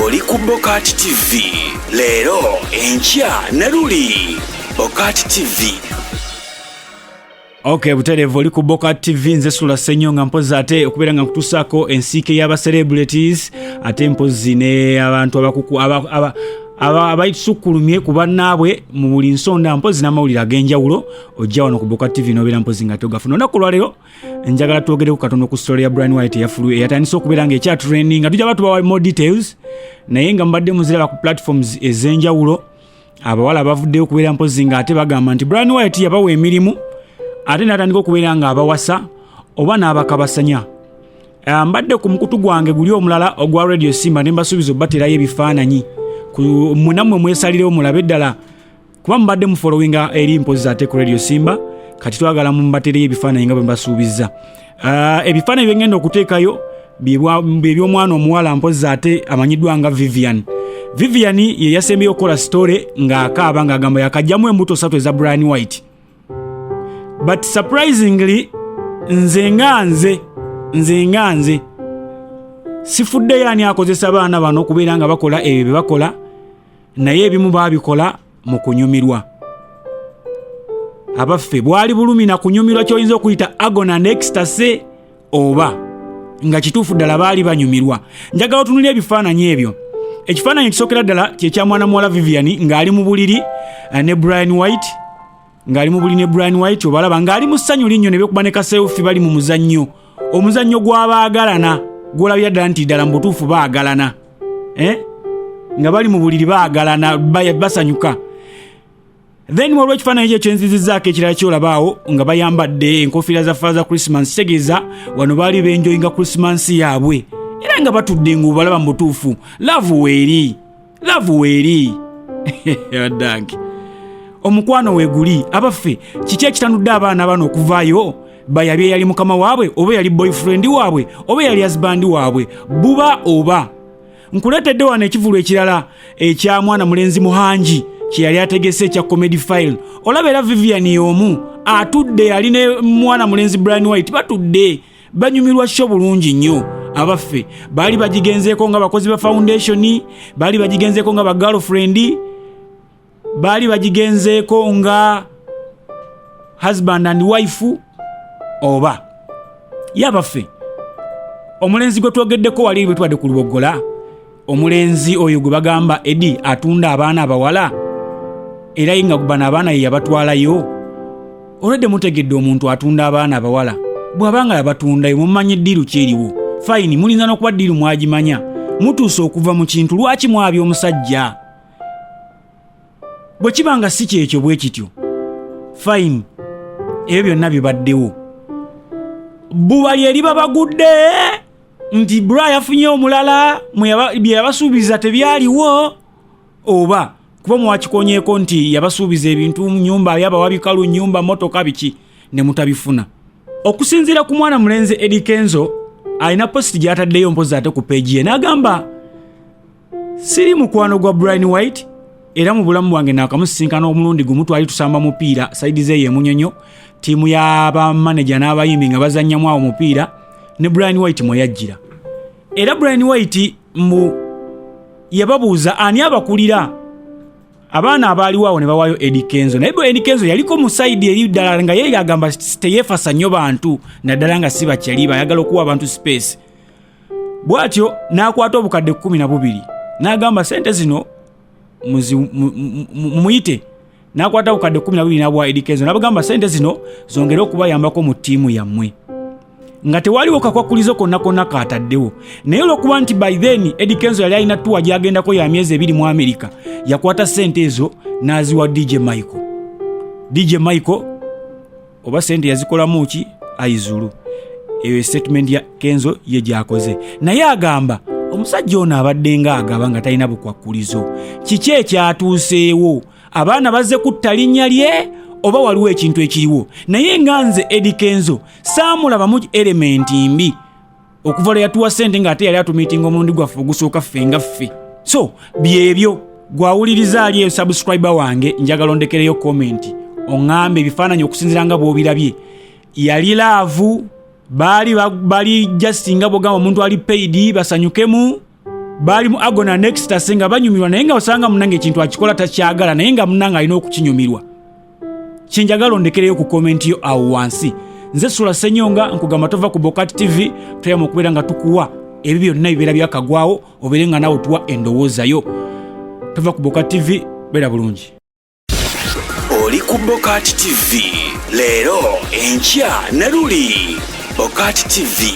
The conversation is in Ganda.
oli ku bokati tv leero enkya ne luli bokati tv ok butereevu oli ku boka tv nze sula senyo nga mpozi ate okubeera nga nkutusaako ensiike y'aba celebrities ate mpozi ne abantu abakuku abaitusukulumye ku bannaabwe mu buli nsonda mpozi n'amawulire ag'enjawulo ojja wano ku boka tv nobeera mpozi nga togafuna olunaku lwaleero njagala twogereko katono ku story ya brian white eyafulu eyatandise okubeera nga ekya training nga tujaba tubawa more details naye nga mbadde muziraba ku platforms ez'enjawulo abawala bavuddeyo okubeera mpozi nga ate bagamba nti brian white yabawa emirimu ate natandika okubeera nga abawasa oba n'abakabasanya ah, mbadde ku mukutu gwange guli omulala ogwa radio simba ne mbasuubiza obaterayo ebifaananyi munammwe mwesalirewo mulabe ddala kuba mubadde mufolowinga eri mpozi za teko radio simba kati twagala mumbatereyo ebifaananyi nga bwe mbasuubizza ah, ebifaananyi byengenda okuteekayo byebyomwana omuwala mpozi ate amanyiddwa nga vivian vivian ye yasembeyo okukola sitore ng'akaaba ng'agamba yakajjamu embuto satu eza brian white but surprisingly nze nga nze nze nga nze sifuddeyo ani akozesa baana bano okubeera nga bakola ebyo bye bakola naye ebimu baabikola mu kunyumirwa abaffe bwali bulumi na kunyumirwa kyoyinza okuyita agona nextase oba nga kituufu ddala baali banyumirwa njagala otunuli ebifaananyi ebyo ekifaananyi ekisokera ddala kyekya mwana muwala vivian ng'ali mu buliri eh, ne brian white ng'ali mu buli ne brian white obalaba ng'ali mu ssanyu linnyo ne bekuba ne kaseefi bali mu muzannyo omuzannyo gw'abaagalana gw'olabira ddala nti ddala mu butuufu baagalana eh? nga bali mu buliri baagalana basanyuka then waliwo ekifaananyi kyo kyenzizizaako ekirala kyolabaawo nga bayambadde enkofiira za faaza christmas kitegeeza wano baali benjoyinga christmas yaabwe era nga batudde ng'obalaba mu butuufu laavu weeri laavu weeri addange omukwano weeguli abaffe kiki ekitanudde abaana bano okuvaayo bayabye yali mukama waabwe oba yali boyfriend waabwe oba yali azibandi waabwe buba oba nkuleetedde wano ekivulu ekirala ekya mwana mulenzi muhangi kye yali ategese ekya comedy file olaba era vivian y'omu atudde yali ne mwana mulenzi brian white batudde banyumirwa sho bulungi nnyo abaffe baali bagigenzeeko nga bakozi ba foundation baali bagigenzeeko nga bagirlfriend baali bagigenzeeko nga husband and wife oba ye abaffe omulenzi gwe twogeddeko wali bwe tubadde ku luboggola omulenzi oyo gwe bagamba edi atunda abaana abawala era ye nga bano abaana ye yabatwalayo olwedde mutegedde omuntu atunda abaana abawala bw'aba nga yabatundayo mumanyi ddiiru kyeriwo fayini mulinza n'okuba ddiiru mwagimanya mutuuse okuva mu kintu lwaki mwabya omusajja bwe kiba nga si kyekyo bwe kityo fayini ebyo byonna bibaddewo bbuba lye liba bagudde nti bra yafunye omulala bye yabasuubiza tebyaliwo oba kuba mwakikonyeeko nti yabasuubiza ebintu nyumba yabawa bikalu nyumba motoka biki ne mutabifuna okusinziira ku mwana mulenzi edikenzo alina positi gyataddeyo mpozi ate ku peegi ye n'agamba siri mukwano gwa brian white era mu bulamu bwange naakamusisinkana omulundi gumu twali tusamba mupiira saidi zeeyo emunyonyo ttiimu y'abamaneja n'abayimbi nga bazannyamu awo mupiira ne brian white mwe yajjira era brian white mbu yababuuza ani abakulira abaana abaaliwo awo ne bawaayo edi kenzo naye bwe edi kenzo yaliko mu saidi eri ddala nga ye agamba teyeefasa nnyo bantu naddala nga si bakyaliba ayagala okuwa abantu sipeesi bw'atyo n'akwata obukadde kkumi na bubiri n'agamba sente zino mumuyite n'akwata obukadde kkumi na bubiri n'abwa edikezo n'abagamba sente zino zongere okubayambako mu ttiimu yammwe nga tewaliwo kakwakulizo konna konna kaataddewo naye olwokuba nti by then edi kenzo yali alina tuwa gyagendako ya myezi ebiri mu amerika yakwata sente ezo n'aziwa dj michael dj michael oba sente yazikolamu ki aizulu eyo statement ya kenzo ye gyakoze naye agamba omusajja ono abadde nga agaba nga talina bukwakkulizo kiki ekyatuuseewo abaana bazze kutta linnya lye oba waliwo ekintu ekiriwo naye nga nze edi kenzo saamulabamu elementi mbi okuva lwe yatuwa sente ng'ate yali atumiitinga omulundi gwaffe ogusooka ffe nga ffe so byebyo gwawuliriza ali eyo subscribe wange njagala ondekereyo komenti oŋŋambe ebifaananyi okusinzira nga bw'obirabye yali laavu baali bali just nga bwogamba omuntu ali paidi basanyukemu baali mu agona nextase nga banyumirwa naye nga osanga munange ekintu akikola takyagala naye nga munange alina okukinyumirwa kyenjagala ondekereyo ku komenti yo awo wansi nze sula senyonga nkugamba tova ku bokat tv toyama okubeera nga tukuwa ebyo byonna bibeera byakagwawo obeere nga nawe tuwa endowoozayo tova ku bokat tv beera bulungi oli ku bokat tv leero enkya ne luli bokat tv